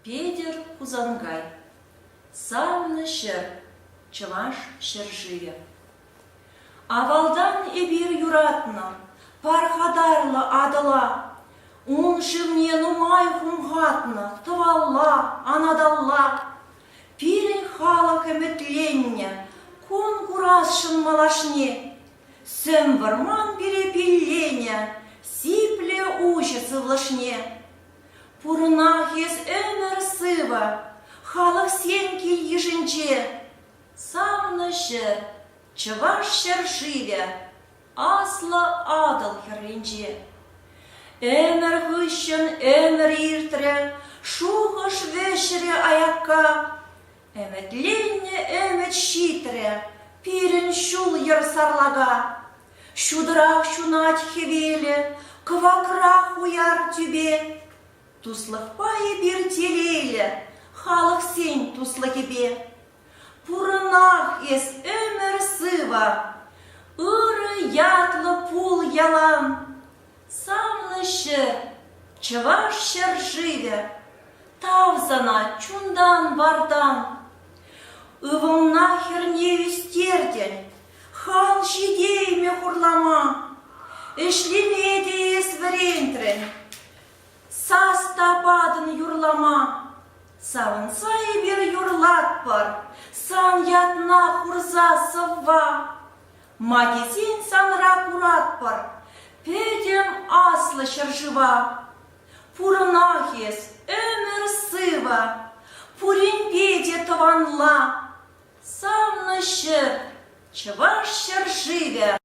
Петӗр Хусанкай, савнӑ ҫӗр, Чӑваш ҫӗршывӗ. Авалтан эпир юратнӑ пархатарлӑ Атӑла. Ун шывне нумай хумхатнӑ тӑвалла, анаталла. пирӗн халӑх ӗмӗтленнӗ кун курасшӑн малашне. Сӗм вӑрман пире пилленӗ сиплӗ уҫӑ сывлӑшне. Пурӑнах эс ӗмӗр сывӑ халӑхсен кил-йышӗнче. Савнӑ ҫӗр, чӑваш ҫӗр-шывӗ Аслӑ Атӑл хӗрринче. Ӗмӗр хыҫҫӑн ӗмӗр иртрӗ, шухӑш вӗҫрӗ аякка. Ӗмӗтленнӗ ӗмӗт ҫитрӗ пирӗн ҫул-йӗр сарлака. Ҫутӑрах ҫунать хӗвелӗ, кӑвакрах уяр тӳпе. Туслӑхпа эпир телейлӗ халӑхсен туслӑхӗпе. Пурӑнах эс ӗмӗр сывӑ, ырӑ ятлӑ пул ялан. Санлӑ ҫӗр, чӑваш ҫӗршывӗ, тав сана чунтан-вартан. Ывӑлна хӗрне ӳстертӗн, хал ҫитеймӗ хурлама. Ӗҫлеме те эс вӗрентрӗн, Сас та патӑн юрлама. Савӑнса эпир юрлатпӑр сан ятна хурса сӑвва. Макӗсен санра куратпӑр пӗтӗм аслӑ ҫӗршыва. Пурӑнах эс, ӗмӗр сывӑ, пуринпе те тӑванла. Савнӑ ҫӗр, Чӑваш ҫӗршывӗ!